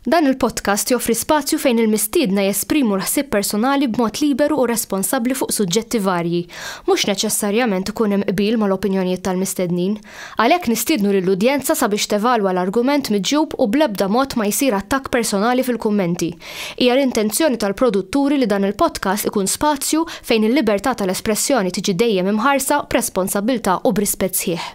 Dan il-podcast joffri spazju fejn il-mistiedna jesprimu l-ħsieb personali b'mod liberu u responsabbli fuq suġġetti varji. Mhux neċessarjament ikun hemm qbil mal-opinjonijiet tal-mistednin. Għalhekk nistiednu lill-udjenza sabiex tevalwa l-argument miġjub u bl-ebda mod ma jsir attakk personali fil-kummenti. Hija l-intenzjoni tal-produtturi li dan il-podcast ikun spazju fejn il-libertà tal-espressjoni tiġi dejjem imħarsa b'responsabbiltà u b'rispett sħiħ.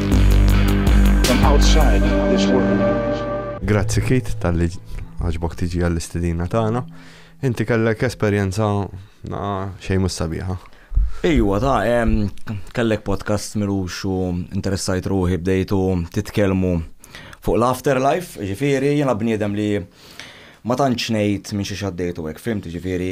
Grazzi Kit tal-li għaġbok tiġi għall-istedina tagħna. Inti kellek esperjenza xejn mhux sabiħa. Ejwa, ta' kellek podcast mirux u interessajt ruħi bdejtu titkellmu fuq l-afterlife, ġifieri jiena bniedem li ma tantx ngħid minn xi xaddejtu hekk, fimt ġifieri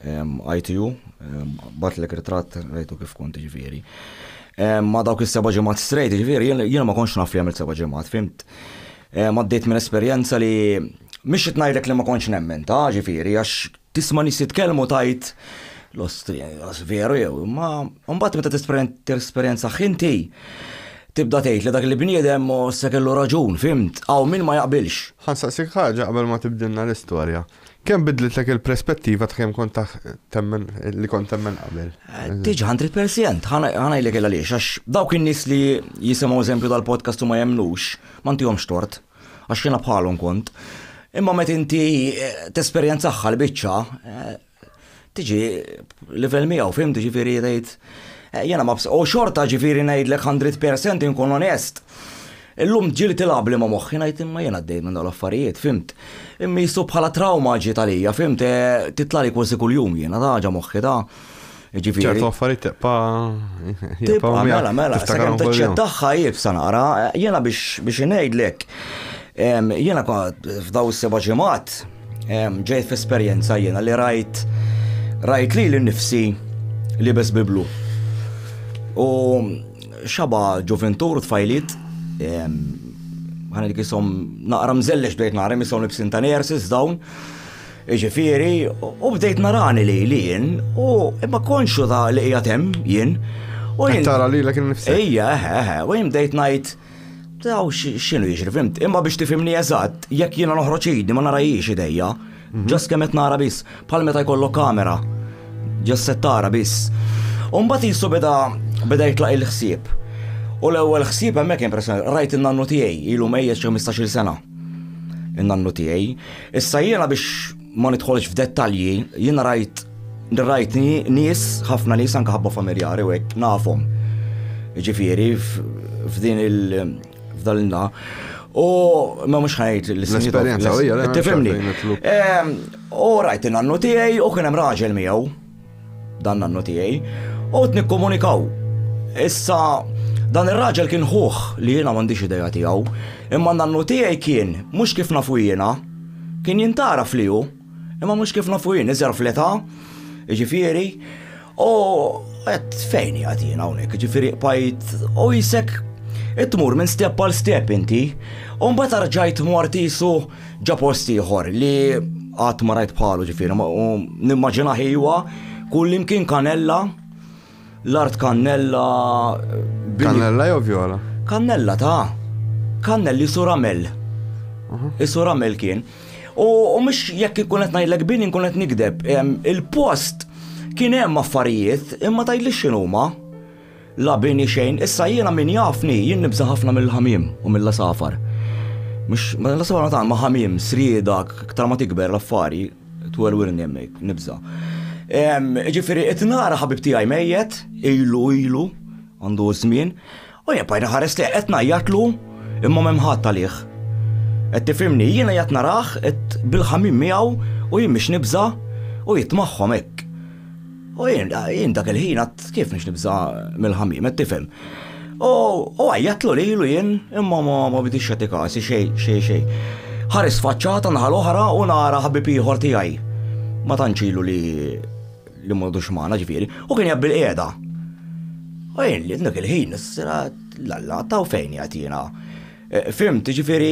ITU, batlek ritratt rajtu kif kont ġifieri. Ma dawk is-seba' ġimgħat strejt, ġifieri jiena ma kontx naf li għamilt seba' ġimgħat, fimt? Għaddejt minn esperjenza li mhix qed ngħidlek li ma kontx nemmen ta' ġifieri għax tisma' nies jitkellmu tgħid l-ostri veru jew, imma mbagħad meta tesperjenza ħinti tibda tgħid li dak il-bniedem se kellu raġun, fimt? Hawn min ma jaqbilx. Ħansaqsik ħaġa qabel ma tibdilna l-istorja. Kemm bidlitlek il-perspettiva ta' kemm kont temmen li kont temmen qabel? Eh, diġa 100%, ħanajlek il għaliex, għax dawk in-nies li jisimgħu eżempju tal-podcast u ma jemnux, ma ntihomx tort, għax jiena bħalhom kont. Imma meta inti eh, tesperjenzaħħa l-biċċa, eh, Tiġi livell miegħu fim ġifieri tgħid eh, jiena ma u xorta ġifieri ngħidlek 100% inkun onest. Illum ġili tilab li ma moħħi ngħid imma jiena għaddej minn l-affarijiet, fimt. Imma jisu bħala trauma ġiet għalija, fimt, eh, titlali kważi kuljum jiena ta' ħaġa moħħi ta' ġifiri. ċertu affarijiet tibqa. Tibqa, mela, mela, sakemm taċċettaħħa jibsa nara, eh, jiena biex ngħidlek. Jiena kont f'daw is-seba' ġimgħat ġejt f'esperjenza jiena li rajt rajt li l-nifsi li bes biblu. U xaba ġuventur tfajlit ħana dik jisom naqra mżellex bdejt naqra jisom libsin ta' nersis dawn. Iġifieri, u bdejt narani li li jien, u imma konxu ta' li qiegħed hemm jien. U jien. Tara li l-ek nifsi. Ejja, eħe, eħe, u jien bdejt ngħid Taw x'inhu jiġri fimt, imma biex tifimni eżatt, jekk jiena noħroġ idi ma narajiex idejja. Ġas kemm qed nara biss, bħal meta jkollok kamera. Ġas se tara biss. U mbagħad jisu beda beda jitlaq il-ħsieb. U l-ewwel ħsieb hemmhekk impressjoni, rajt in-nannu tiegħi ilu mejjet xi 15-il sena. In-nannu tiegħi. Issa jiena biex Ma nidħolx f'dettalji, jiena rajt rajt nies, ħafna nies anke ħabba familjari u hekk nafhom. Ġifieri f'din il f'dan il-na. U ma mhux ħajt l-esperjenza. Tifhimni. U rajt in-nannu tiegħi u kien hemm raġel miegħu. Dan nannu tiegħi. Għodt nikkomunikaw. Issa, dan ir-raġel kien ħuh li jiena m'għandix idea tiegħu, imma nannu tiegħi kien, mhux kif nafu jiena. Kien jintgħaraf li hu, imma mhux kif nafu jien, iżgħar fl-età, jiġifieri, u għedt fejn qiegħed jiena hawnhekk, jiġifieri qbajt u qisek tmur minn step għal step inti, u mbagħad arġajt mort qisu Ġa post ieħor li qatt ma rajt bħalu ġifieri, u nimmaġina ħiwa kull imkien kanella, l-art kannella. Kannella jew vjola? Kannella ta' kannelli suramel. Is-suramel kien. U mhux jekk ikun qed ngħidlek bin inkun qed nikdeb. Il-post kien hemm affarijiet imma tgħidli x'inhuma. La bini xejn, issa jiena min jafni, jien nibża' ħafna mill-ħamiem u mill-għasafar. Mhux, l-għasafar ma tant, ma ħamiem, srieda, aktar ma tikber l-affari, twelwilni hemmhekk, nibża'. Jiġifieri qed nara ħabib tiegħi mejjet, ilu, ilu, għandu ż-żmien, u jien bqajt inħares lejh, qed ngħajjatlu, imma m'hemm ħadd għalih. Qed tifhimni, jiena qiegħed narah, qed bil-ħamiem miegħu u jien mhix nibża' u qiegħed magħhom hekk. U jien, jien dak il-ħin għad kif nix nibza mill-ħamim, qed tifhem. U għajjatlu li ilu jien imma ma bidix xati kasi xej, xej, xej. Ħares faċċata naħal oħra u nara ħabib ieħor tiegħi. Ma tanċilu li li m'għodux magħna ġifieri, u kien jabbil qiegħda. U jien li dak il-ħin, s-sira, l-alla, taw fejn jgħatina. Fimt, ġifiri,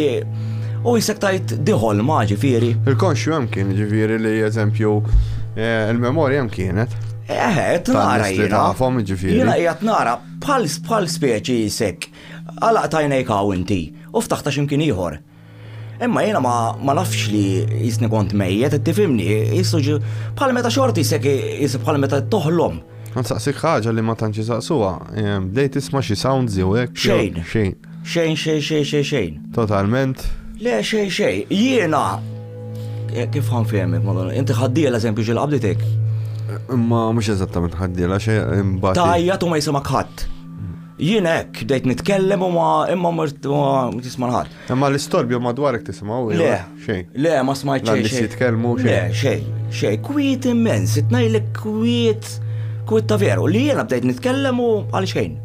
u jisek tajt diħol ma ġifiri. Il-konxju hemm kien ġifiri li eżempju eh, il-memorja hemm kienet. Eħet, nara jina. Tafhom ġifiri. Jina jgħat nara bħal bħal speċi jisek. Għalaq tajnejk għaw inti u ftaħta ximkien ieħor. Imma jina ma, ma nafx li jisni kont mejjet, tifimni, jissuġi bħal meta xorti jisek jisib bħal meta toħlom. Nsaqsik ħaġa li ma tantx saqsuha, bdejt tisma' xi sounds jew hekk. Xejn. Xejn. Xejn, xejn, xejn, xejn, xejn. Totalment. Le, xejn, xejn. Jiena. Eh, kif għan fehmek, madonna. Inti ħaddiela eżempju ġil qabditek. Ma mhux eżattament ħaddiela xejn imbagħad. Tajja tu ma jisimak ħadd. Jien hekk dejt nitkellem u ma imma mort tisma' ħadd. Imma l-istorbju madwarek tisimgħu le xejn. Le ma smajt xejn. Xejn jitkellmu xejn. Le xejn, xejn kwiet immens, itnajlek kwiet kwiet ta' veru li jiena bdejt nitkellem u għal xejn.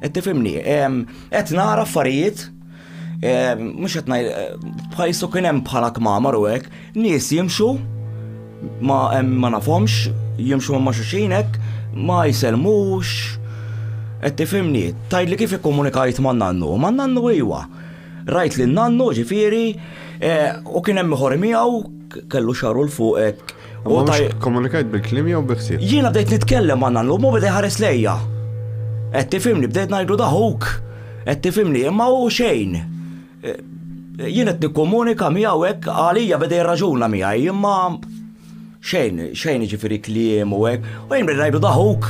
Qed tifhimni, qed nara affarijiet mhux qed ngħid bħajsu kien hemm bħala kmamar u hekk, nies jimxu ma ma nafhomx, jimxu ma xuxin hekk, ma jsellmux. Qed tifhimni, tajt li kif ikkomunikajt ma' nannu, ma' nannu iwa. Rajt li nannu ġifieri u kien hemm ieħor miegħu kellu xaru l fuq hekk U tajjeb. Komunikajt bil-klim jew bi ħsieb. Jiena bdejt nitkellem ma' nannu, mu bdej ħares lejja. Qed tifimni, bdejt ngħidlu daħuk. Qed tifimni, imma hu xejn. E, jien qed nikkomunika miegħu hekk għalija bdej raġuna miegħi, imma xejn, xejn ġifieri kliem u hekk. U jien bdejt ngħidlu daħuk.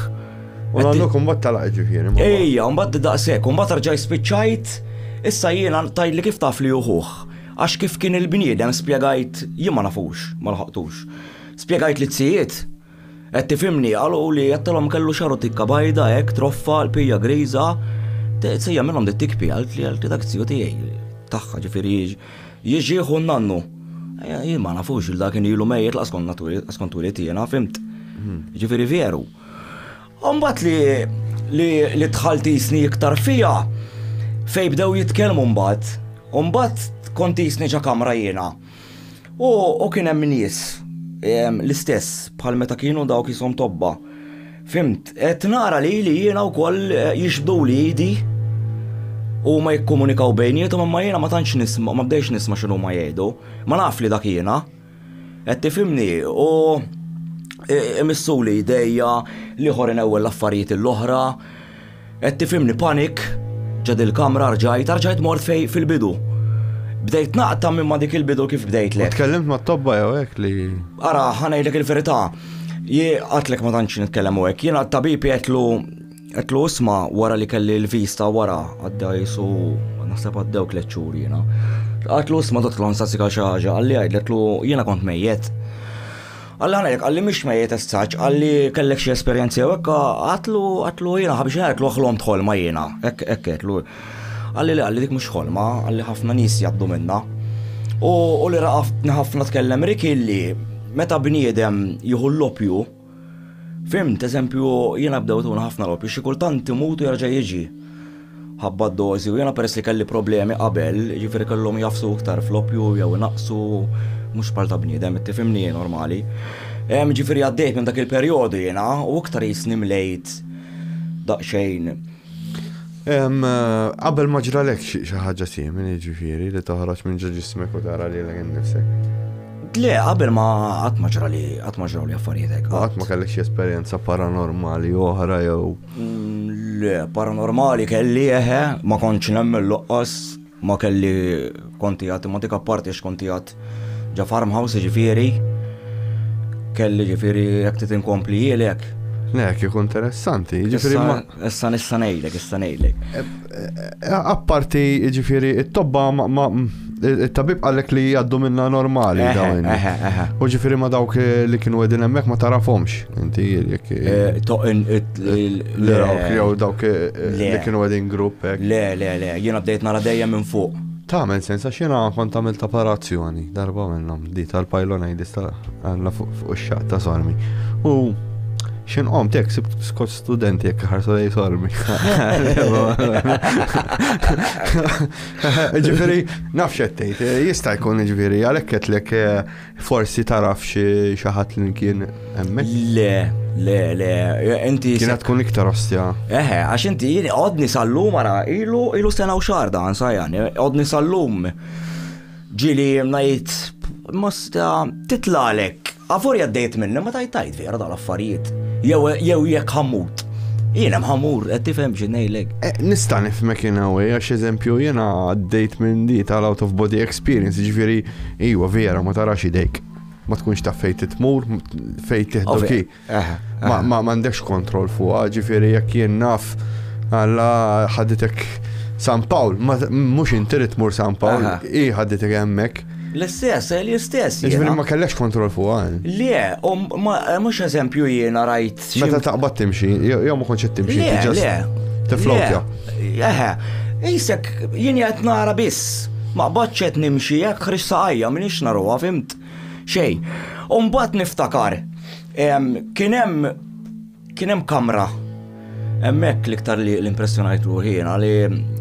U nannu kumbat talaq ġifieri. Ejja, mbagħad daqshekk, mbagħad rġaj spiċċajt, issa jiena tajli kif taf li uħuh. Għax kif kien il-bniedem spjegajt jien ma nafux, ma lħaqtux. Spjegajt lizzijiet, qed tifhimni, qaluli għedtilhom kellu xagħru tikka bajda hekk troffa, qlpija griża, tsejjaħ minnhom di tikpi, qaltli qaltli dak ziju tiegħi, tagħha ġifieri jiġi ħu n-nannu. Jien ma nafux il dak kien ilu mejjet lanqas kont naf, lanqas kont twilit jiena, fhimt? Jiġifieri veru. Umbat li li tħalt jisni iktar fija fej bdew jitkellmu mbagħad. Umbat kont jisni ġa kamra jiena. U kien hemm nies l-istess bħal meta kienu dawk jishom tobba. Fimt, qed nara lili jiena wkoll jixbduli idi u huma jikkomunikaw bejniethom imma jiena ma tantx nisma' ma bdejtx nisma' x'inhuma jgħidu. Ma naf li dak jiena. Qed tifhimni? U imissuli jdejja li ħor inewwel l-affarijiet l-oħra. Qed tifhimni panik ġa dil-kamra rġajt, rġajt mort fej fil-bidu. Bdejt naqta' minn ma dik il-bidu kif bdejt lek. Tkellimt ma' tobba jew hekk li. Ara, ħa ngħidlek il-verità. Jien qatlek ma tantx nitkellem u hekk. Jiena t-tabib jgħidlu Għedtlu isma wara li kelli l-vista wara għadda jisu naħseb għaddew tliet xhur jiena. Għedtlu isma dottlon sasika xi ħaġa għalli għedtlu jiena kont mejjet. Għalli għalek, għalli mhix mejjet essaċ, għalli kellek xi esperjenzi jew hekk, għatlu għatlu jiena ħabiex għatlu ħlom tħolma jiena, hekk hekk għatlu. Għalli li għalli dik mhux ħolma, għalli ħafna nies jgħaddu minna. U li raqaftni ħafna tkellem Rick illi meta bniedem jieħu l-lopju, Fhimt, eżempju, jiena bdewt un ħafna loppi, xi kultant imut u jerġa' jiġi. Ħabba d-dożi u jiena peress li kelli problemi qabel, jiġifieri kellhom jagħfsu iktar fl-oppju jew inaqqsu, mhux bħal ta' bniedem, qed tifhimni, normali. Jiġifieri għaddejt minn dak il-perjodu jiena u iktar qisni mlejt daqsxejn. Qabel ma ġralek xi ħaġa simili ġifieri li toħroġ minn ġo ġismek u tara li l-għin nifsek. Le, qabel ma qatt ma ġra li qatt ma ġraw li affarijiet hekk. Qatt ma kellek xi esperjenza paranormali oħra jew. Mm, le, paranormali kelli eħe, ma kontx nemmen loqqas Ma kelli kont qiegħed imma dik apparti għax kont qiegħed ġa farmhouse jiġifieri kelli jiġifieri jekk trid inkompli jielek. Le, kieku interessanti, jiġifieri ma. Issa nista' ngħidlek, issa ngħidlek. Eh, eh, apparti jiġifieri it-tobba ma il-tabib għallek li jaddu minna normali dawn. U ġifiri ma dawk li kienu għedin emmek ma tarafomx. Inti jek. Eh, Le, jew dawk eh, eh, li kienu għedin grupp. Eh. Le, le, le, jiena bdejt nara dejjem minn fuq. Ta' men sens, għax jiena kont għamil ta' parazzjoni, darba minnhom, di tal-pajlona jidista għanna fuq ix-xaq ta' sormi. U xin għom tek sib skot studenti jek ħarsu lej sormi. Ġifiri, nafxettejt, jista jkun ġifiri, għalek ketlek Forsi taraf xi ħadd li kien hemmhekk? Le, le, le, inti. Kienet tkun iktar ostja. Eħe, għax inti jien għodni sallum ara ilu ilu sena u xahar dan sajjan, għodni sallum. Ġili ngħid masta titlalek, għafor jaddejt minni ma tajt Vera tal-affarijiet. Jew jew jekk ħammut. Jiena mħammur, qed tifhem xi ngħidlek. Eh, nista' nifhmek in a way għax eżempju jiena għaddejt minn di tal-out of body experience, ġifieri iwa vera ma tarax idejk. Ma tkunx taf fejn titmur, fejn tiħdu ki. Eh, eh. Ma m'għandekx kontroll fuqha, ġifieri jekk jien naf għalla ħaditek San Pawl, mhux inti tmur San Pawl, hi ħaditek hemmhekk. L-istess, eh, l-istess. Ġifiri ma kellekx kontrol fuq għan. Eh? Le, u mux eżempju jiena rajt. Meta taqbad timxi, jew ma konċet timxi. Le, le. Tiflokja. Eħe, jisek jien jgħat nara biss. Ma bħadċet nimxi, jek xrissa għajja, minix naruwa, fimt. Xej. Umbat niftakar, kienem Kien hemm kamra hemmhekk l-iktar li l-impressjonajt ruħi jiena li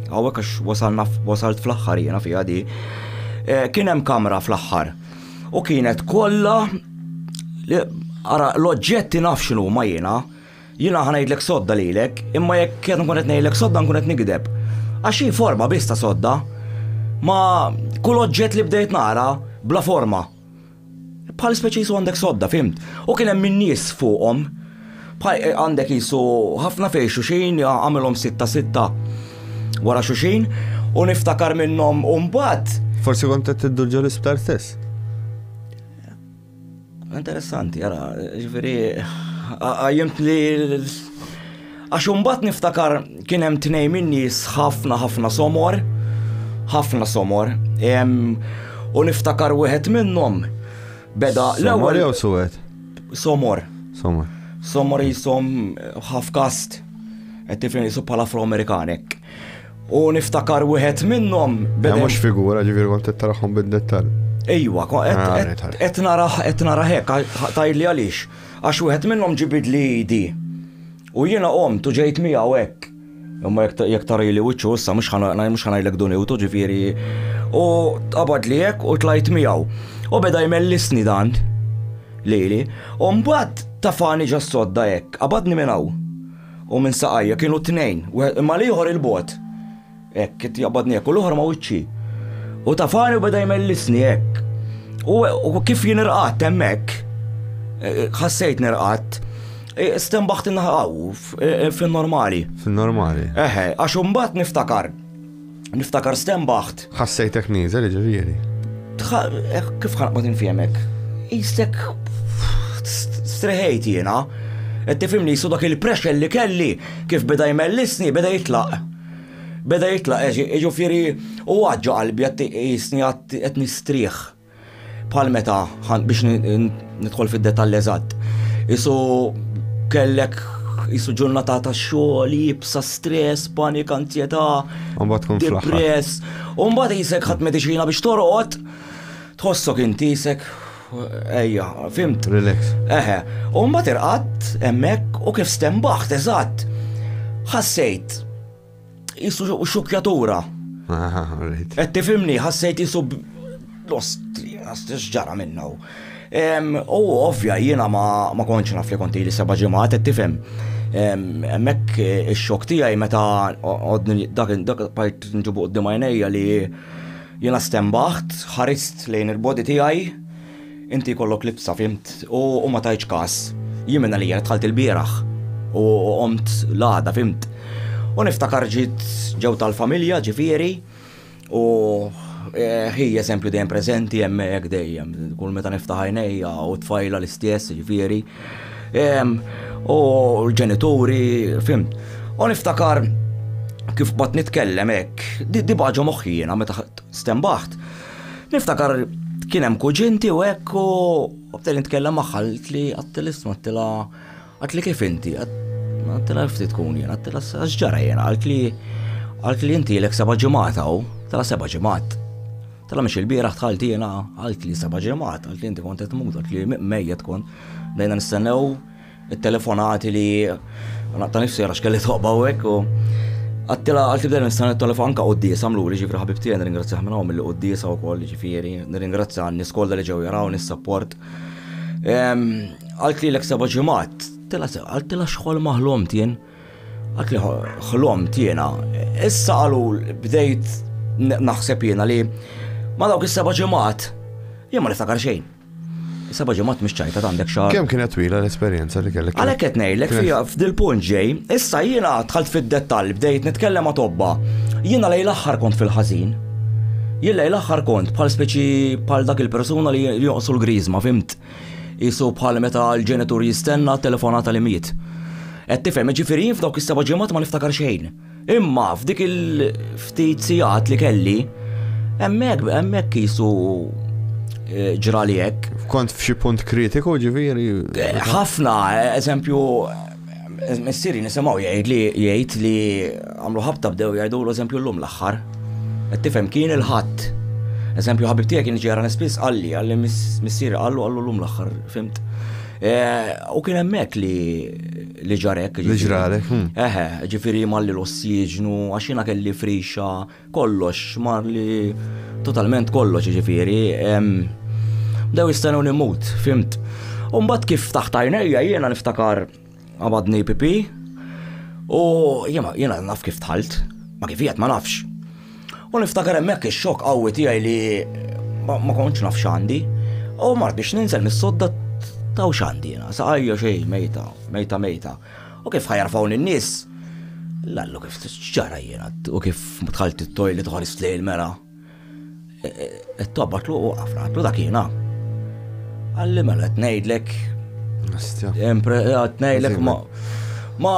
hawnhekk għax wasalna wasalt fl-aħħar jiena fiha di. Eh, kien hemm kamra fl-aħħar u kienet kollha ara l-oġġetti naf x'inhu ma jiena jiena ħanajdlek sodda lilek imma jekk qed nkun qed ngħidlek sodda nkun qed nigdeb. Għax hi forma biss ta' sodda ma kull oġġett li bdejt nara bla forma. Bħal speċi jisu għandek sodda, fimt? U kien hemm in-nies fuqhom. Eh, għandek jisu ħafna fejn xuxin, għamilhom sitta sitta wara xuxin, u niftakar minnhom u mbagħad. Forsi kont qed tiddu ġol isptar stess. Interessanti, għara, ġifieri għajjimt li Għax imbagħad niftakar kien hemm tnejn min-nies ħafna ħafna somor, ħafna somor, u niftakar wieħed minnhom beda l-ewwel. Somor suwed? Somor. Somor. Somor jisom half cast, qed tifhem jisu bħala afro-Amerikanek. U niftakar wieħed minnhom beda. Mhux figura ġifieri kont taraħhom bid-dettall. Ejwa, qed naraħ qed naraħ hekk tajli għaliex. Għax wieħed minnhom ġibidli idi. U jiena qomt u ġejt miegħu hekk. Imma jekk, jekk tarili wiċċu issa mhux ħa, mhux ħa ngħidlek duniwtu, ġifieri. U tqabadli hekk u tlajt miegħu. U beda jmellisni dan lili. U mbagħad tafani ġas-sodda hekk, qabadni minn hawn u minn saqajja, kienu t-tnejn, wieħed, imma l-ieħor 'il bogħod. Hekk, qed jaqbadni hekk u l-oħra ma' wiċċi. U tafani u beda jmellisni hekk. U kif jien irqatt hemmhekk, e, e, ħassejt nirqatt, e, stembaħt inħaw fin-normali. Fin-normali. Eħe, għax imbagħad niftakar. Niftakar stembaħt. Ħassejtek nieżel ġifieri. Kif ħanqbad infjemek? Istek streħejt jiena. Qed tifhimni jisu dak il-pressure li kelli kif beda jmellisni beda jitlaq. Beda jitlaq, jiġifieri u għad ġo qalbi għad iqisni għad qed nistrieħ. Bħal meta biex nidħol fid-detall eżatt. Isu kellek isu ġurnata ta' xogħol, jibsa stress, panik, anzjetà. Mbagħad tkun depress. U mbagħad isek ħadd mediċina biex torqod. Tħossok inti isek Ejja, fimt. Relax. Eħe, u mbagħad irqatt hemmhekk u kif stembaħt eżatt. Ħassejt jisu xukjatura. Qed tifimni, ħassejt jisu l-ostri, ġara minna. U ovvja jiena ma konċ naf li konti li seba' ġimgħat qed tifhem. Hemmhekk ix-xokk tiegħi meta dak dak part nġibu qudiem għajnejja li Jiena stenbaħt, ħarist lejn il-body tiegħi. Inti jkollok libsa, fhimt, u ma tajtx każ. Jien minn għalija dħalt ilbieraħ u qomt l-għada, fhimt. U niftakar ġiet ġew tal-familja, ġifieri, u hi eżempju dejjem preżenti hemmhekk dejjem, kull meta niftaħ għajnejja u t-tfajla l-istess, ġifieri. U l-ġenituri, fim. U niftakar kif bat nitkellem hekk, di baġo moħħina meta stembaħt. Niftakar kien hemm kuġinti u hekk u bdejt nitkellem magħha li għattilist mattila għatli kif inti, għattila ftit tkun jien, għattila s-ġara jien, għalt li għalt li inti l-ek seba ġimata u tala seba ġimat. Tala miex il-bieraħ tħalti jena għalt li seba ġemat, għalt li inti kont qed mut, għalt li mejja tkun. Dajna nistennew il-telefonati li naqta nifsi għax kelli toqba u hekk u għattila għalt li nistennew il-telefon anka qoddisa mluri ġifri ħabib tiegħi nirringrazzjah minn hawn mill qoddisa wkoll ġifieri, nirringrazzja n-nies kollha li ġew jaraw nis-support. Ehm, għalt li l-ek seba ġemat, tela għalt tila xħol maħlom tien. Għad li ħlomt jiena, issa qalu bdejt naħseb jiena li ma dawk is-seba' ġimgħat jien ma niftakar xejn. Seba' ġimgħat mhix ċajta għandek xahar. Kemm kienet twila l-esperjenza li kellek? Għalhekk qed ngħidlek fiha f'dil punt ġej, issa jiena dħalt fid-dettall bdejt nitkellem ma' tobba. Jiena lejn l-aħħar kont fil-ħażin. Jien lejn l-aħħar kont bħal speċi bħal dak il-persuna li joqsu l-griżma, fimt? Qisu bħal meta l-ġenitur jistenna t-telefonata li miet. Qed tifhem, jiġifieri jien f'dawk is-seba' ġimgħat ma niftakar xejn. Imma f'dik il-ftit sigħat li kelli, hemmhekk hemmhekk qisu eh, ġrali hekk. Kont f'xi punt kritiku ġifieri? Ħafna, eżempju, Missieri nisimgħu jgħid li jgħid li għamlu ħabta bdew jgħidulu eżempju llum l-aħħar. Qed tifhem kien il-Ħadd. Eżempju ħabib tiegħek kien ġara nispiss qalli qalli missieri qallu qallu llum l-aħħar, fimt? Eh, u kien hemmhekk li li ġarek. Li ġralek. Hm. Eħe, ġifieri malli l-ossiġnu, għax jiena kelli frixa, Kollox, mar li totalment kollox jiġifieri. Bdew jistennew nimmut, fimt. U mbagħad kif taħt għajnejja jiena niftakar qabadni pipi u jiena naf kif dħalt, ma kif qiegħed ma nafx. U niftakar hemmhekk ix-xokk qawwi tiegħi li ma kontx naf x'għandi. U mart biex ninżel mis-sodda taw x'għandi jiena, saqajja xejn, mejta, mejta mejta. U kif ħajarfaw lin-nies? Lallu kif ġara jiena u kif dħalt it-toilet ħarist lejn il-mera. E, e, e, Tobba tluq u għafna, tluq dak jiena. Għalli mela qed ngħidlek. Qed ngħidlek ma ma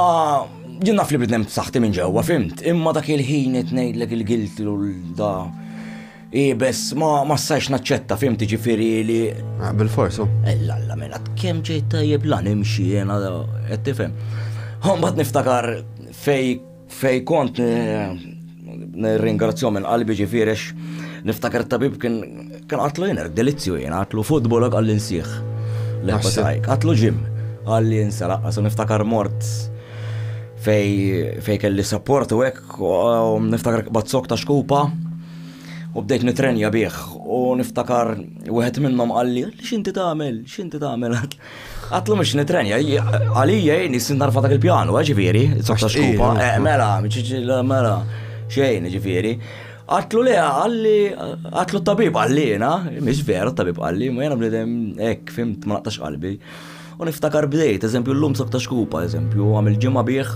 jien naf li bidnem saħti minn ġewwa, fimt, imma dak il-ħin qed ngħidlek il-gilti u l-da I bess ma ma sajx naċċetta fim tiġifieri li. Ah, Bil-forsu. Ella eh, la mela kemm ġejt tajjeb lan imxi jiena qed tifhem. Mbagħad niftakar fej fej kont nirringrazzjom minn qalbi ġifierex niftakar tabib kien kien għatlu jien delizzju jien għatlu futbol għal insieħ. L-ħatajk, għatlu ġim għalli jinsa laqqas u niftakar mort fej kelli support u hekk niftakar bazzok ta' xkupa U bdejt nitrenja bih u niftakar wieħed minnhom qalli li x'inti tagħmel, x'inti tagħmel. Għatlu mhux nitrenja, għalija jgħin jissin narfa dak il-pjanu, eh, ġifieri, softa xkupa, eh, mela, mela, xejn ġifieri. Għatlu le, għalli, għatlu tabib għallina, miex vera tabib għalli, ma jena bnidem, ek, fimt, ma naqtax qalbi. U niftakar bdejt, eżempju llum sob ta' xkupa, eżempju, għam il-ġimgħa bih,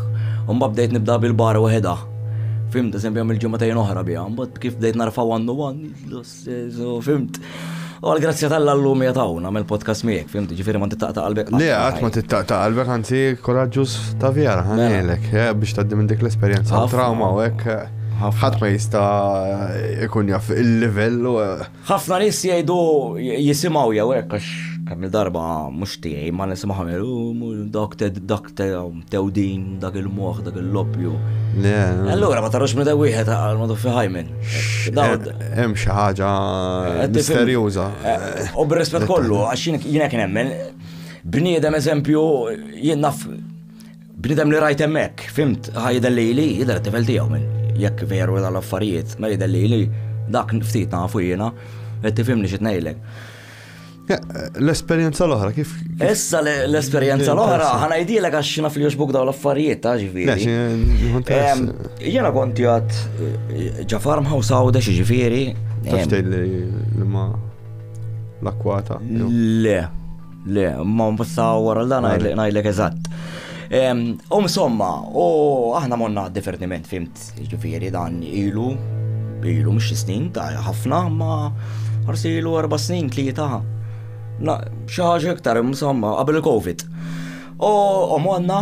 u mbagħad bdejt nibda bil-bar waħedha. Fimt, eżempju, għam il-ġimgħatejn oħra biha, mbagħad kif bdejt narfa' one to one, fimt. U għal-grazzja tal-la llum hija tawna għamel podcast miegħek, fimt, ġifieri ma tittaqta' qalbek. Le, qatt ma tittaqta' qalbek, anzi koraġġuż ta' vera, mela. ħanilek, eh, biex tgħaddi minn dik l-esperjenza trawma u hekk. Eh, ħadd ma jista' ikun jaf il-livell eh, Ħafna nies jgħidu jisimgħu jew hekk għax kemm il-darba mhux tiegħi ma nisimgħu jgħidu dak dak tewdin dak il-moħħ dak il-loppju. Allura ma tarux meta wieħed għalmadu fi ħajmen. Hemm xi ħaġa misterjuża. U b'rispett kollu għax jiena kien hemmen bniedem eżempju jien naf Bnidem li rajt hemmhekk, fimt, ħa jidher lili, jidher it-tifel tiegħu minn jekk veru dan l-affarijiet, ma jidher lili dak ftit nafu jiena, qed tifhimni xi ngħidlek. L-esperjenza l-oħra kif. Issa l-esperjenza l-oħra ħanajdilek għax naf li juxbuk dawn l-affarijiet ta' ġifieri. Jiena kont jgħat eh, ġa farmhouse għawdex ġifieri. Tafx li ma l-akwata. Le, Le, ma mbussa wara dan ngħidlek eżatt. U insomma, u aħna monna divertiment fimt, ġifieri dan ilu, ilu mhux snin ta' ħafna, ma forsi ilu erba' snin tlieta. Xi ħaġa iktar insomma qabel il-COVID. U monna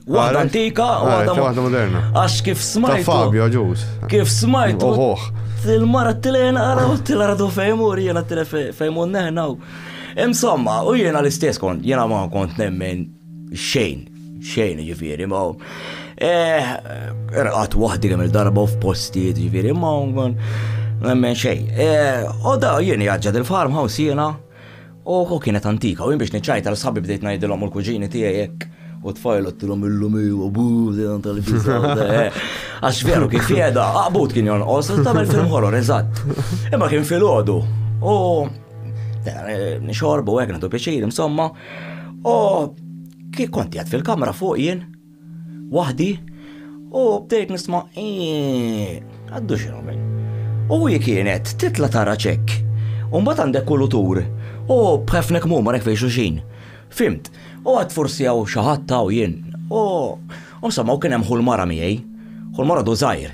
Waħda antika, waħda waħda moderna. Għax kif smajt. Fabio ġus. Kif smajt. Uħuħ. Il-mara t-tilen għara u t-tilardu fejmu rjena t-tilen fejmu neħna. Insomma, u jena l-istess kont, jena ma kont nemmen xejn, xejn ġifiri, ma eh, rqat wahdi kemm il-darba u f'postijiet ġifiri, ma nemmen xejn. Eh, u da jena jgħagġad il-farmhouse jena, Oħ, kienet antika, u jien biex niċċajta l sħabi bdejt ngħidilhom u l-kuġini tiegħi hekk u tfajl għattilom illum u abu, dan tal-ġizza. Għax veru kif jeda, għabut kien jonqos, tamel film horror, eżatt. Imma kien fil-ħodu. U nixorbu għek, nadu pieċir, insomma. U kif konti għad fil-kamra fuq jien, waħdi u bdejt nisma' eeeq, għaddu xi nagħmel. U hi kienet titla' tara ċekk, u mbagħad għandek kulutur u b'ħefna kemm huma hekk fejn xulxin. Fhimt. U għad forsi hawn xi ħadd hawn jien. U insomma u kien hemm ħu l-mara miegħi, ħu l-mara għadu żgħir.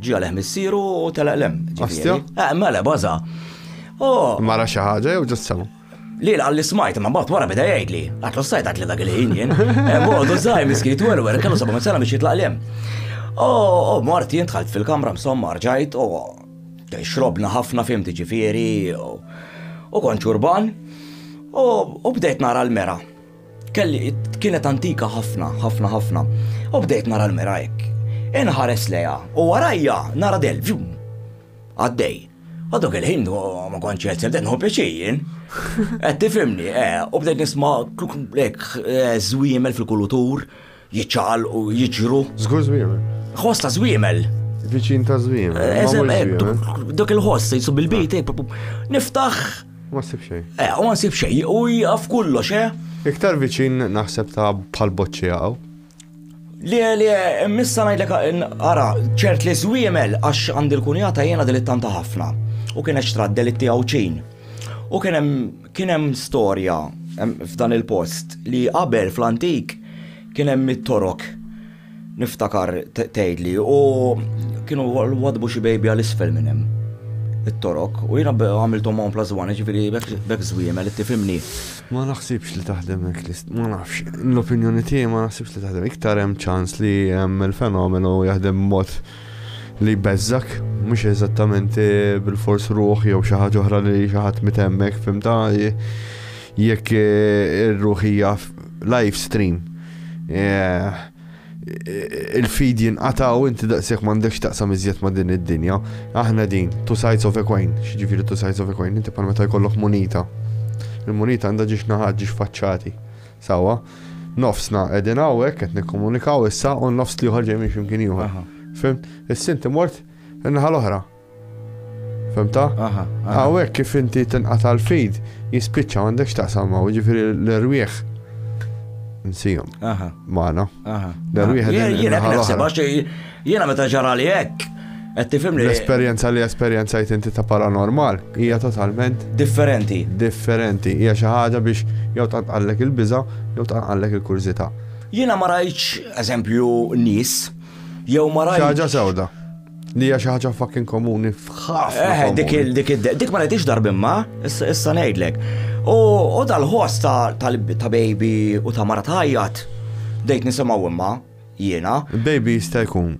Ġi għalih missieru u telaq lem. Astja? Eh, mela, baza. Oh. Mara xi ħaġa jew ġust sema. Li għalli smajt, ma bat wara bida jgħidli. Għatlu sajt għatli dak il-ħin jien. Eh, Mordu zaħi miskin twelu, għer kellu sabu minn biex jitlaq lem. Oh, oh, Marti jien tħalt fil-kamra msomma rġajt, oh, xrobna ħafna fim tiġifieri u konċ urban u bdejt nara l-mera. Kelli kienet antika ħafna, ħafna, ħafna. U bdejt nara l-mera hekk. Inħares leja u warajja nara del ġum. Għaddej. U dok il-ħin ma kontx qed sebdet nħu pjaċejjin. Qed tifhimni, eh, u bdejt nisma' lek eh, żwiemel fil-kulutur. Eh, Jiċċaqalqu, jiġru. Żgur żwiemel. Ħoss ta' żwiemel. Viċin ta' żwiemel. Eżem, dak il-ħoss se jsub il-bejt, niftaħ. Ma nsib xejn. Eh, ma nsib xejn, u jaf kollox, eh? Iktar viċin naħseb ta' bħal boċċi għaw. Li li missa ngħidlek ara ċert li żwiemel għax għandi l-kunjata jiena delittanta ħafna u kien eċtra delitti għawċin. U kien hemm Kien hemm storja f'dan il-post li qabel fl-antik kien hemm it-torok niftakar tgħidli u kienu wadbu xi bejbi għal isfel minn hemm it-torok u jiena għamilthom hawn plus one ġifieri bekk żwiemel tifhimni. Ma naħsibx li taħdem hekk list, ma nafx. L-opinjoni tiegħi ma naħsibx li taħdem. Iktar hemm ċans li hemm il-fenomenu jaħdem mod li jbeżżak, mhux eżattament eh, bil-fors ruħ jew xi ħaġa oħra li xi ħadd mitemmek, fimta jekk eh, ir-ruħ hija live stream. Eh, il-feed jinqata u inti daqsek m'għandekx taqsam iżjed ma' din id-dinja. Aħna din, two sides of a coin, xġifiri two sides of a coin, inti bħal meta jkollok munita. Il-munita għandha ġiex naħad ġiex faċċati. Sewwa. Nofsna qegħdin hawnhekk qed nikkomunikaw issa u n-nofs l-ieħor ġej minn xi mkien ieħor. Aha. Fimt? Is-sinti mort in-naħa l-oħra. Fimta? Aha. aha. Hawnhekk kif inti tinqata' l-feed jispiċċa m'għandekx taqsam ma' jiġifieri l-erwieħ nsihom Aha. magħna. Aha. L-erwieħ Jien- qegħdin jien hekk in-naħa naħseb, l-oħra. għax, eh, Jiena meta ġarali hekk, qed tifhimni. L-esperjenza li esperjenzajt inti ta' paranormal hija totalment differenti. Differenti, hija xi ħaġa biex jew tanqallek il-biża' jew tanqallek il-kurżità. Jiena ma rajtx eżempju nies jew ma rajtx. Xi ħaġa sewda. Li hija xi ħaġa fucking komuni f'ħafna. Eh, dik dik dik ma rajtix darbimma, issa ngħidlek. U dal-ħoss ta' baby u ta' mara tajjat, dejt nisimgħu imma. jiena. Baby jista' jkun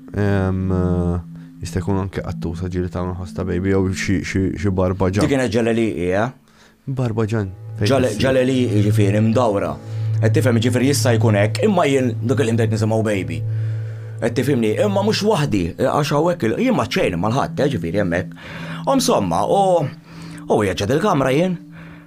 jista' jkun anke qattusa ġieli tagħmel ħoss ta' baby jew xi barba ġan. Dik kienet ġaleliqi, eh? Barba ġan. Ġaleliqi jiġifieri mdawra. Qed tifhem jiġifieri jista' jkun hekk, imma jien dak il-ħin bdejt nisimgħu baby. Qed tifhimni, imma mhux waħdi, għax hawnhekk jien ma ċejn mal-ħadd, eh, ġifieri hemmhekk. U msomma, u u wieġed il-kamra jien.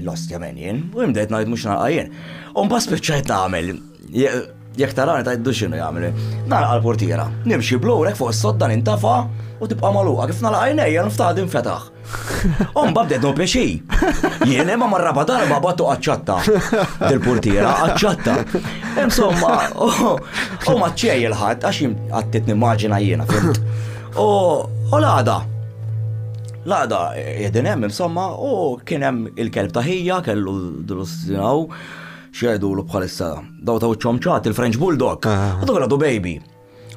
L-ostja men jien, u jien bdejt ngħid mhux nagħqa jien. U mbagħad spiċċajt nagħmel jekk tarani tajdu xinu jagħmel. Nagħlaq l-portiera, nimxi blurek fuq is-sodda nintafa u tibqa' magħluqa kif nagħlaq għajnejja niftaħ din fetaħ. Omba bdejt no pjaxi. Jien imma marraba darba battu qaċċatta. Dil-portiera qaċċatta. Insomma, u maċċej il-ħadd għax għattit nimmaġina jiena fimt. U l-għada, L-għaqda qegħdin hemm insomma u kien hemm il-kelb ta' ħija kellu dil-ostinaw x'jgħidulu bħalissa daw ta' wiċċhom ċat il-French Bulldog. U dak għadu baby.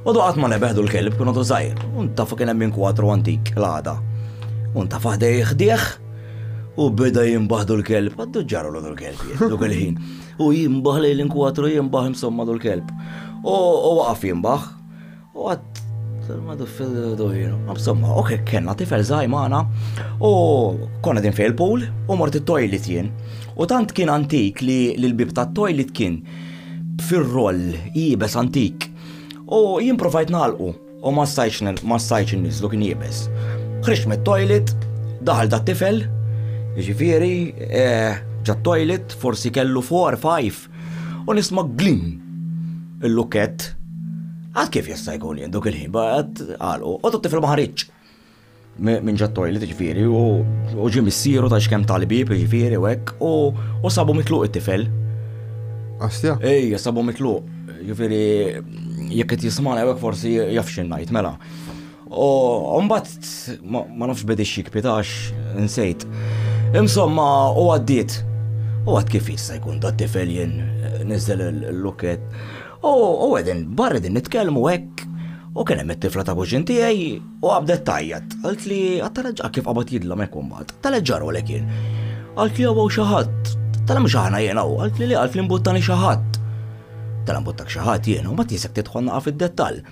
U dak qatt ma nebeħdu l-kelb kien għadu żgħir. U ntafa kien hemm inkwatru antik l-għada. U ntafa ħdej ħdieħ u beda jimbaħdu l-kelb. Għaddu ġarru l kelb duk il-ħin. U jimbaħ lejn l-inkwatru jimbaħ insomma l-kelb. U waqaf jimbaħ. U għad madu fil-dojr. Insomma, ok, kena tifel zaħi maħna u konna din fej il-pool u mort il-toilet jien. U tant kien antik li l-bib ta' toilet kien fil-roll jibes antik. U jien provajt nalqu u ma stajċ nizlu kien jibes. Ħriġ me toilet daħal da' tifel, ġifiri, eh, ġa toilet, forsi kellu 4-5 U nisma glim il-lukett. Għad kif jista' jkun jien dok il-ħin baqgħet għalqu, u tutti fil maħriċ minn ġat toilet ġifieri u ġie missieru ta' xkemm tal-bib ġifieri u hekk u sabu mitluq it-tifel. Astja? Ej, sabu mitluq. Ġifieri jekk qed jismana hekk forsi jaf xi ngħid mela. U mbagħad ma nafx bidix jikpitax insejt. Insomma, u għaddiet. U għad kif jista' jkun da tifel jien eh, niżel l-luket. U għedin, barra din nitkellmu hekk U kien hemm it-tifla ta' kuxin tiegħi u għabdet tajjat. Għalt li għattaleġġa kif qabad jidlom hekk imbagħad. Taleġġaru lek jien. Għalt li għaw xi ħadd. Tal mhux aħna jien hawn, għalt li li għalt li mbuttani xi ħadd. Tal mbuttak xi ħadd jien u ma tisek tidħol naqa' fid-dettall.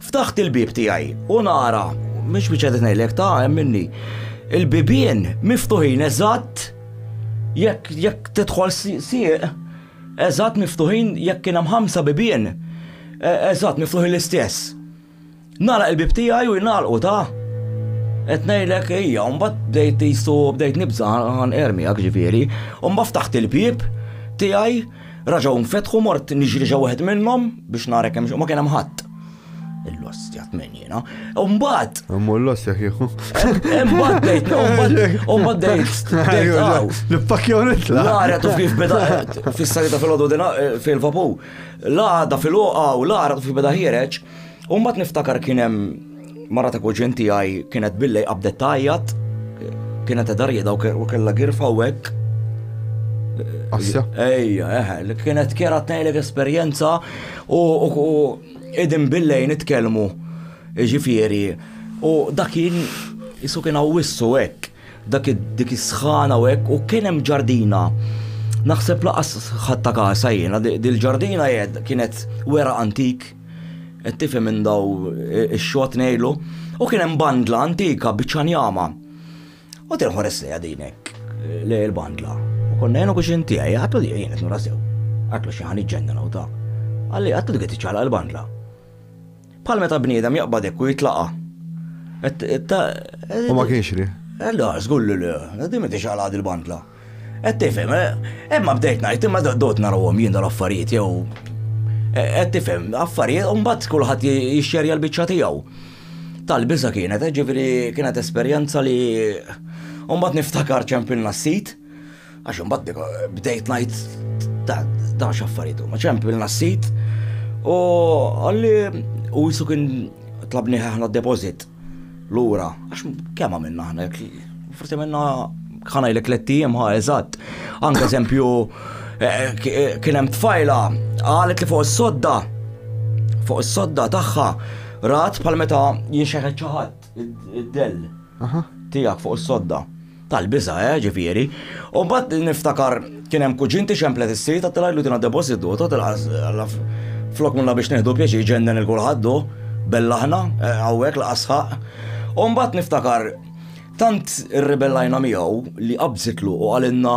Ftaħt il-bieb tiegħi u nara, mhix biċċa qed ngħidlek ta' hemm minni, il-bibien miftuħin eżatt jekk jekk tidħol sieq eżatt miftuħin jekk kien hemm ħamsa bibien e, eżatt miftuħin l-istess. Nara il-bib tiegħi u jingħalqu ta' qed ngħidlek hija u mbagħad bdejt jisu bdejt nibża' għan ermi għak ġifieri, u mbagħad ftaħt il-bieb tiegħi Raġgħu nfetħu mort niġri ġew wieħed minnhom biex nara kemm ma kien hemm ħadd. Il-lostja tmenjina. U mbagħad. Immu l-lostja kieku. Mbagħad dejt, mbagħad dejt. L-pakkew nitla. Lara tuf kif beda fis-salita fil-għodu eh, fil-vapu. Lada fil-oqa u lara tuf kif beda ħiereġ. U mbagħad niftakar kien hemm mara ta' kuġin tiegħi kienet billej qabdet tajjat, kienet edha rieda u kellha girfa u hekk. Assja. Ejja, eħe, eh, kienet kera tnejlek esperjenza u idin billej nitkellmu ġifieri u dakin jisu kien għawissu hekk dak dik is-sħana u hekk u kien hemm ġardina. Naħseb laqas ħatta kasa jiena, dil-ġardina jed kienet wera antik Qed tifhem minn daw ix-xogħod ngħidlu, u kien hemm bandla antika biċċa njama. U qed inħares lejha din hekk, lej il-bandla. U konna jien u kuxin tiegħi għatlu li jien qed nura sew. Għatlu xi ħan iġġenna u ta'. Għalli għatlu dik qed iċċaqlaq il-bandla. Bħal meta bniedem jaqbad hekk u jitlaqa'. U ma kienx li. Għallu għażgur li le, din ma tixaqlaq il-bandla. Qed tifhem, eh, imma bdejt ngħid imma dot narahom jien dal-affarijiet jew eh, qed tifhem, affarijiet u mbagħad kulħadd jixxerja l-biċċa tiegħu. Tal-biża kienet, eh, ġifieri kienet esperjenza li mbagħad niftakar ċempilna s-sit għax mbagħad bdejt ngħid ta' ta' x'affarijiet huma ċempilna s-sit u għalli u jisu kien tlabni ħahna deposit. Lura, għax kemm għamilna aħna, forsi minna ħanajlek l-ettijiem ħa eżatt. Anke eżempju, eh, eh, kien hemm tfajla qalet li fuq is-sodda, fuq is-sodda tagħha rat bħal meta jinxeħet ċaħat id-dell tiegħek fuq is-sodda. Tal-biża', eh, ġifieri. U mbagħad niftakar kien hemm kuġin tixemplet is-sid għad tgħidlu tina depositu, tot il-ħas flok minna biex neħdu pjaċi ġennen il-kulħaddu, bellaħna, eh, hawnhekk l-qasħaq. U mbagħad niftakar tant irribellajna miegħu li qabżitlu u għalinna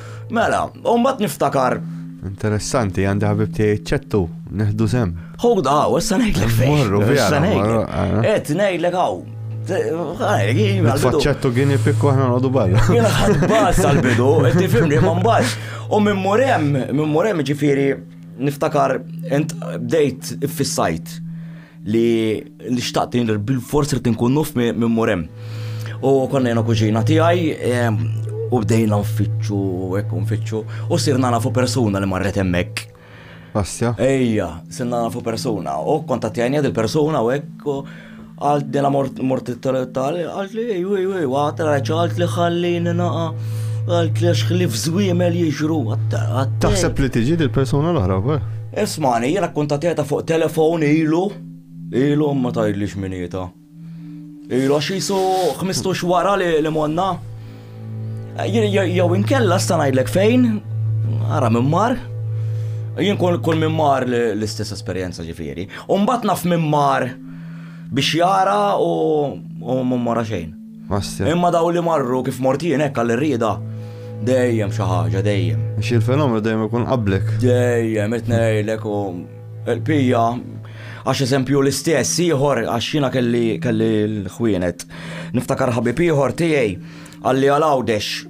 Mela, u mbagħad niftakar. Interessanti, għandi ħabib tiegħi ċettu, neħdu sem. Hold on, issa ngħidlek fejn. Morru, issa ngħidlek. Qed ngħidlek hawn. Faċċettu gini pikku ħna nodu barra. Jena ħadbas tal-bidu, tifimni ma mbax. U minn murem, minn murem ġifiri, niftakar, ent bdejt fis-sajt. Li xtaqt li bil-forsi li tinkun nuf minn murem. U konna jena kuġina tiegħi u bdejna nfittxu hekk nfittxu u sirna nafu persuna li marret hemmhekk. Asja. Ejja, sirna nafu persuna u kontattjajni il persuna u hekk għalt dela mort tal għalt li ej, ej, ej, għat raċ għalt li ħallini naqa għalt li xħlif zwimel jiġru għatta. Taħseb li tiġi dil persuna l-oħra, Ismani, jiena kkuntatjata fuq telefon ilu, ilu ma tajdlix minieta. Ilu għax jisu xmistux wara li li monna. Jew inkella sta ngħidlek fejn, ara minn mar. Jien kull kull minn mar l-istess esperjenza ġifieri. Umbat naf minn mar biex jara u mara xejn. Imma dawn li marru kif mort jien hekk għall-irrieda, dejjem xi ħaġa, dejjem. Xi l-fenomenu dejjem ikun qablek. Dejjem, qed ngħidlek u l-qbija għax eżempju l-istess ieħor għax jiena kelli kelli l-ħwienet. Niftakar ħabib ieħor tiegħi għalli għal Għawdex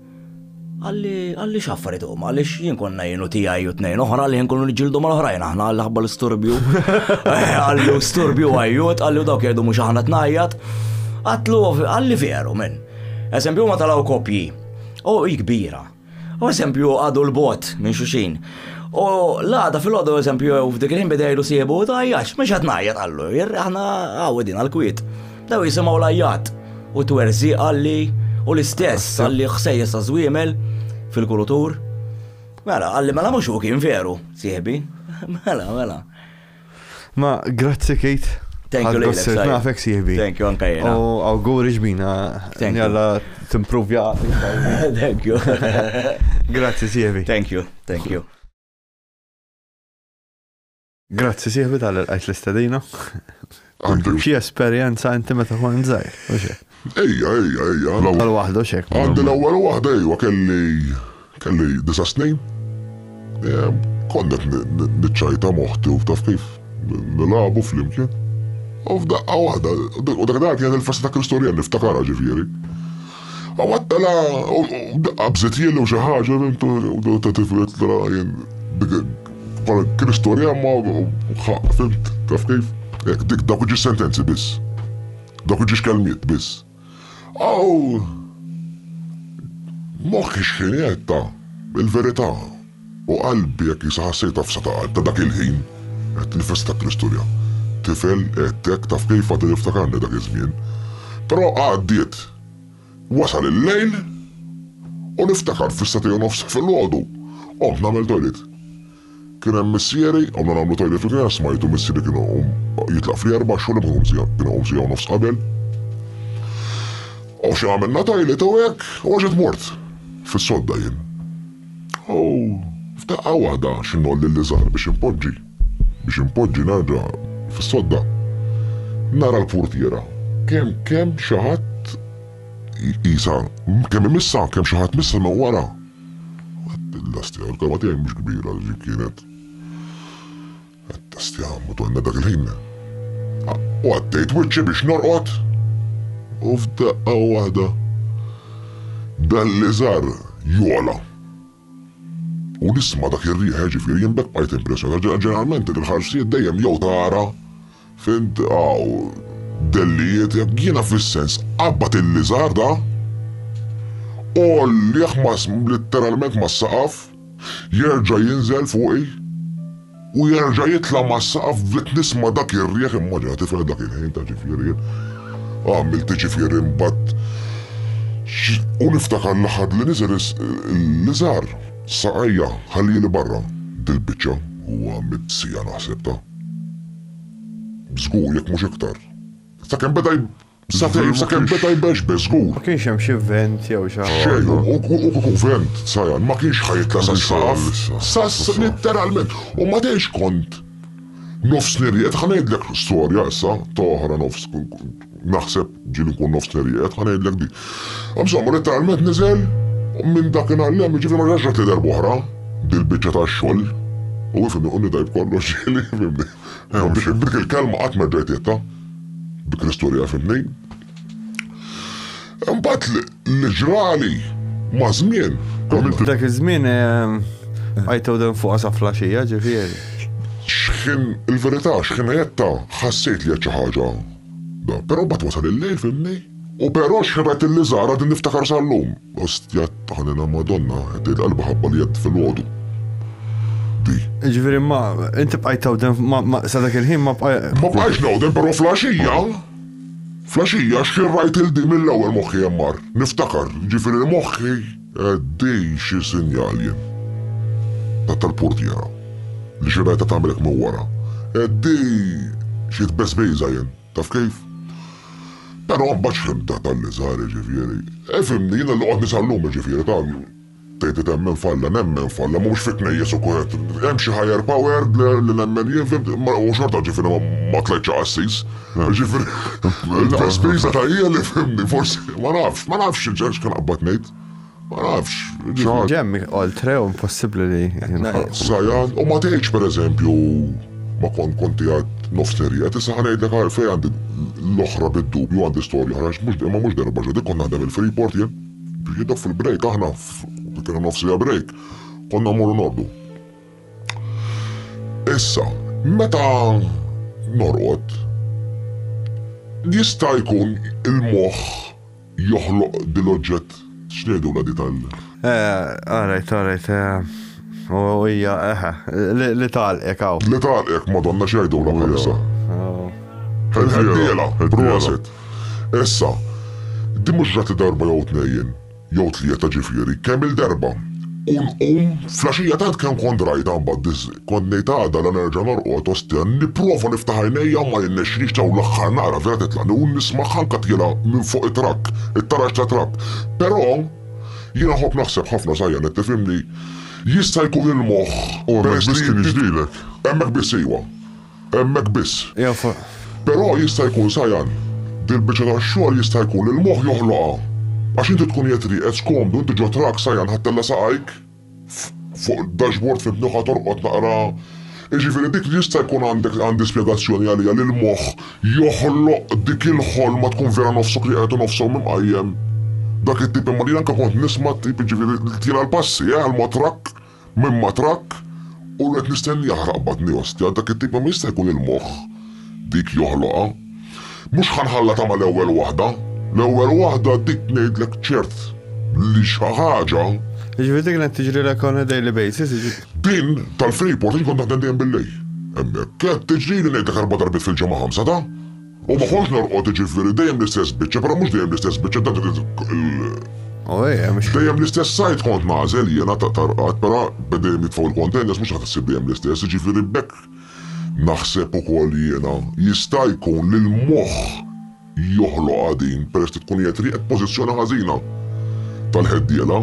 Qalli, qalli x'affariet huma, għaliex jien konna jien u tiegħi u tnejn oħra li nkunu niġġieldu mal-oħrajn aħna għal ħabba l-isturbju. Eh, għallu sturbju għajjut, għallu dawk jgħidu mhux aħna tnajjat. Għatlu għalli veru minn. Eżempju ma talaw kopji. U kbira. U eżempju għadu l-bot minn xuxin. U l-għada fil-għadu eżempju f'dik il-ħin bidejlu siebu u tajjax, mhux qed ngħajjat għallu, aħna għawedin għal-kwiet. Daw jisimgħu lajjat u twerżi għalli u l-istess għalli ħsejjes ta' żwiemel fil-kulutur. Mela, għalli mela mhux u kien veru, sieħbi. Mela, mela. Ma, grazzi Kate. Thank you, Lejlek. Sir nafek sieħbi. Thank you, anka jena. U għawguri ġbina. Thank you. Jalla t-improvja. Thank you. Grazzi sieħbi. Thank you, thank you. Grazzi sieħbi tal l-għajt l-istedina. Għandu xie esperienza inti meta kont zaħir, u xie? Ejja, ejja, ejja. L-ewwel waħda u xek. Għandi l-ewwel waħda ejwa kelli kelli disa' snin. Konnet niċċajta moħti u taf kif nilabu flimkien. U f'daqqa waħda, u dak dak kienet il-festa ta' Kristorjan niftakarha ġifieri. Għawattala u qabżet jillu xi ħaġa u ta' tiflet tara jien bħala kien istorja ma fimt taf kif. Ek, dik dak ġi sentenzi biss. Dak ġi xkelmiet biss. Aw moħħi x'kien jgħid ta' il-verità. O qalbi, jekk Isa ħass jgħid għafsa ta' qalb ta' dak il-ħin, qed tinfesta ta' Kristu li għad tifel, għedtek, taf kif, għadu jiftakarni dak iż-żmien. Però għaddiet. Wasal il-lejl u niftakar fis-sagħtej u nofs filgħodu, qomt nagħmel toilet. Kien hemm missieri, qomna nagħmlu toilet fil-kien għax smajtu missieri kien iqum jitlaq fl-erbgħa xogħol imma kien iqum siegħa u nofs qabel. O xi għamilna toilet u hekk u għax qed mort fis-sodda jien. U f'daqqa waħda xi ngħolli l-iżgħar biex inpoġġi, biex inpoġġi nerġa' fis-sodda, nara l-purtiera kemm kemm xi ħadd iqisha kemm imissha, kemm xi ħadd missha minn wara. Għedt il-lastja, il-karba tiegħi mhux kbira, ġifieri kienet. Għattast, ja Madonna, dak il-ħin. U għaddejt wiċċi biex norqod. U f'daqqa waħda dal-liżar jogħla. U nisma' dak ir-riħ, jiġifieri jien b'hekk bqajt impressjonat. Ġeneralment il-ħarsijiet dejjem jew tara Fimt hawn dellijiet jekk jiena fis-sens qabbad il-liżarda, għollieh litteralment mas-saqaf, jerġa' jinżel fuqi u jerġa' jitla' mas-saqaf bdiet nisma' dak ir-riħ, immaġina tifel dak il-ħin ta' ċifirien, għamiltli ċifirien mbagħad u niftakar l-aħħar li niżel il-liżar saqajja ħallieli barra dil-biċċa, huwa mit-siegħa naħseb ta. Żgur, jekk mhux iktar. Sakemm beda Satejn, sakemm beda jbeġbeż, żgur. Ma kienx hemm xi vent jew xi ħaġa. Xejn, u kieku vent, Sajan, ma kienx ħa jitla' sas-saqaf. Sas, litteralment. U ma tgħidx kont nofs nirjed, ħa ngħidlek storja issa, ta' oħra nofs, Naħseb ġieli nkun nofsneri qiegħed, ħa ngħidlek di. Insomma, letteralment niżel minn dak inħallem, jiġifieri ma ġaġġat li darba oħra dil-biċċa tax-xogħol. U ifimni u nidajb kollox ġieli, fimni. B'dik il-kelma qatt ma ġejt bi Kristu li fimni. Imbagħad li ġrali ma' żmien. Dak iż-żmien għajtew dan fuqha sa flaxija ġifieri. X'ħin il-verità x'ħin jetta ħassejt li qed xi ħaġa. Però mbagħad wasal il-lejl fimni. U però xħibet li żara din niftakar sal-lum. Ostja taħnina Madonna qed tgħid qalba ħabba li jedd fil-għodu. Di. Ġifieri ma inti bqajt tawdem sa dak il-ħin ma bqajt. Ma bqajx nawdem però flaxija. Flaxija xxirrajt 'il din mill-ewwel moħħi hemm mar. Niftakar, jiġifieri moħħi din xi sinjal jien. Tat tal-purtiera, li xirrajtha tagħmel hekk minn wara. Din xi tbeżbejża jien, taf kif? Però mbagħad x'ħimta tal-liżar jiġifieri. Ifhimni, jiena li qgħodt nisa llum jiġifieri, taf. Tgħid temmen f'Alla, nemmen f'Alla, mhux fit-tnejjes u kulħadd, hemm xi higher power li nemmen jien fim, u xorta ġifieri ma tlajtx a qassis. Ġifieri il-vespisa ta' hija li fhimni forsi, ma nafx, ma nafx x'kien qabbad ngħid. Ma nafx. Ġifieri hemm oltre u impossibbli li. Sajan, u ma tgħidx pereżempju ma kont kont qiegħed nofs serje, issa ħa ngħidlek għalfejn għandi l-oħra bid-dubju għandi storja oħra, mhux imma mhux darba ġo dik kont naħdem il-Freeport jien. Biex jidhom fil-break aħna kien hemm nofsija break, konna mmorru norqdu. Issa, meta norqod, jista' jkun il-moħħ joħloq dil-oġġett x'ngħidu la di tal- Eh, all right, all right, eh, u hija, eh, li- li tagħlqek hawn. Li tagħlqek, Madonna x'jgħidulha bħalissa. Oh. Ħeddiela, prosit. Issa, din mhux ġrat darba jew tnejn, jew tlieta ġifieri, kemm-il darba. U nqum, flaxija tant kemm kont rajtha mbagħad kont ngħid għada la nerġa' norqod ostja nipprova niftaħ għajnejja u ma jirnexxilix dawn l-aħħar nara vera titlagħni u nismagħha anke tjiela minn fuq it-trakk, it-taraġ ta' trakk. Però, jiena nħobb naħseb ħafna Sajjan qed tifhimni, jista' jkun il-moħħ, peress li. U hemmhekk biss kien jiġrilek? Hemmhekk biss iwa. hemmhekk biss. Però jista' jkun sajgħan. Dil-biċċa tax-xogħol jista' jkun li l-moħħ joħloqha. Għax inti tkun qiegħed rieqed skomdu, inti ġo trak sajgħan ħattella saqajk fuq id-dashboard fi mnuħa torqod naqra. Jiġifieri dik jista' jkun għandek għandi spjegazzjoni għaliha li l-moħħ joħloq dik il-ħolma tkun vera nofsok rieqed u nofsok mqajjem. Dak it-tip imma li anke kont nisma' t-tip jiġifieri li tira l-passi, eh, għall-mod trakk. Minn ma trakk u qed nistenni jaħraq batni ostja, dak it-tip kemm jista' jkun il-moħħ dik joħloqha. Mhux ħa nħalla tama' l-ewwel waħda. L-ewwel waħda dik ngħidlek ċert li xi ħaġa. Jiġifieri dik li qed tiġrilek on a daily basis, jiġifieri. Din tal-Freeport jien kont naħdem dejjem bil-lejl. Hemmhekk. Qed tiġrili ngħidlek erba' darbiet fil-ġimgħa ħamsa ta'. U ma kontx norqod jiġifieri dejjem l-istess biċċa, però mhux dejjem l-istess biċċa dak il Dejjem l-istess sajd kont nagħżel jiena ta' tarqad, però dejjem jitfgħu l-containers mhux qed issib dejjem l-istess, jiġifieri b'hekk naħseb ukoll jiena jista' jkun li l-moħħ joħloqha din peress li tkun qiegħed rieqed pożizzjoni ħażina tal-ħeddiela.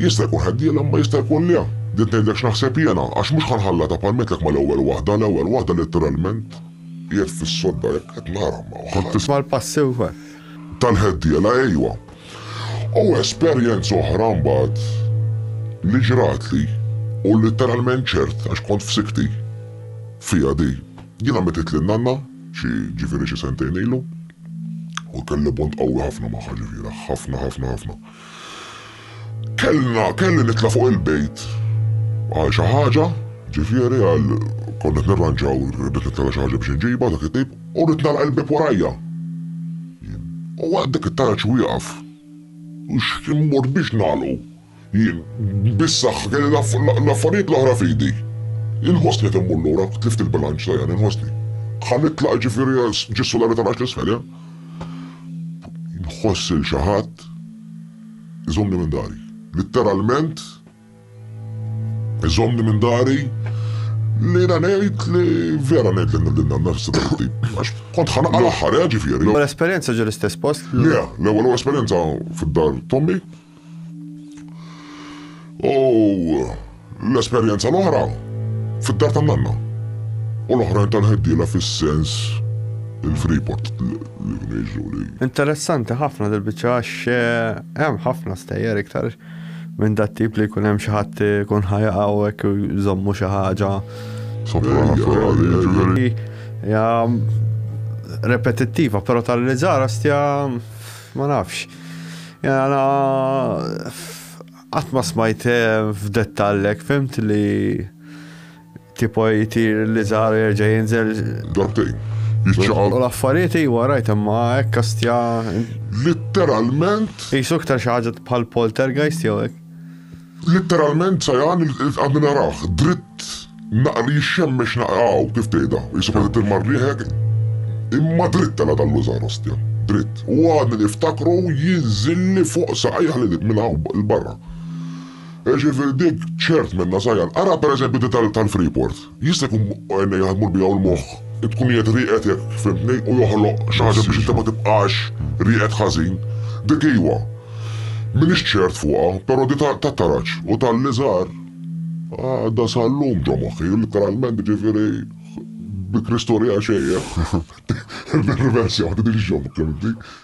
Jista' jkun ħeddiela imma jista' jkun le. Din ngħidlek x'naħseb jiena għax mhux ħa nħallatha bħal ngħidlek mal-ewwel waħda, l-ewwel waħda litteralment. Qiegħed fis-sodda hekk qed nara ma Kont tisma' l-passi wkoll? Tal-ħeddiela ejwa. U esperjenza oħra mbagħad li ġratli u litteralment ċert għax kont f'sikti fiha di. Jiena mittitli n-nanna xi ġifieri xi sentejn ilu u kelli bond qawwi ħafna magħha ġifieri ħafna ħafna ħafna. Kellna, kelli nitla' fuq il-bejt għal xi ħaġa, ġifieri għal konna qed nirranġaw, rrid nitla' xi ħaġa biex inġibha dak it-tip, u rrid nagħlaq il-bieb warajja. Jien, u waqt dik it-taraġ wieqaf, u x'kien mort biex nagħlqu. Jien, bis-saħħa kelli l-affarijiet l-oħra f'idi. Inħossni qed immur lura, tlift il-bilanċ ta' jani, inħossni. Ħa nitlaq ġifieri ġis-sulari ta' rax l-isfel, eh? Nħoss lil xi ħadd iżommni minn dari. Litteralment iżommni minn dari li jiena ngħid li vera ngħid li din għandna fissa tip. Għax kont ħanqa l-aħħar, eh, ġifieri. L-esperjenza ġiel istess post? Le, l-ewwel esperjenza fid-dar Tommy, U l-esperjenza l-oħra fid-dar tan-nanna. U l-oħrajn tal-ħeddiela fis-sens il-Freeport li kienu jiġru li. Interessanti ħafna dil-biċċa għax eh, hemm ħafna stejjer iktar minn dat tip li jkun hemm xi ħadd ikun ħajaqgħu hekk jżommu xi ħaġa. Jiġifieri- ja repetittiva, però tal-li ġara stja Ma nafx. Jena qatt ma smajt eh, f'dettallek, fimt li tipo jtir li zar jerġa' jinżel. Dartejn. Jiċċaqal. U l-affarijiet iwa rajt imma hekk kastja. Litteralment. Jisu iktar xi ħaġa bħal poltergeist jew hekk. Litteralment Sajan għadni narah, dritt naqra li jixxemmex naqra hawn kif tgħidha, jisibha li tirma' rrieħek, imma dritt tela' dan l-użar ostja, dritt. U għadni niftakru jinżilli fuq saqajh li minn hawn 'l barra. Jiġifieri dik ċert minnha Sajan. Ara pereżempju dik tal-Freeport. Jista' jkun għajnejh jaħdmu biha u l-moħħ, tkun qiegħed rieqed jekk fhimtni u joħloq xi ħaġa biex inti ma tibqax rieqed ħażin. Dik iva. M'iniex ċert fuqha, però di ta' taraġ u talli żgħar għadha sal-lum ġo moħħi, litteralment jiġifieri bi Kristu rieqa xejn, eh? Nirriversjaw din il-joke, fimtni?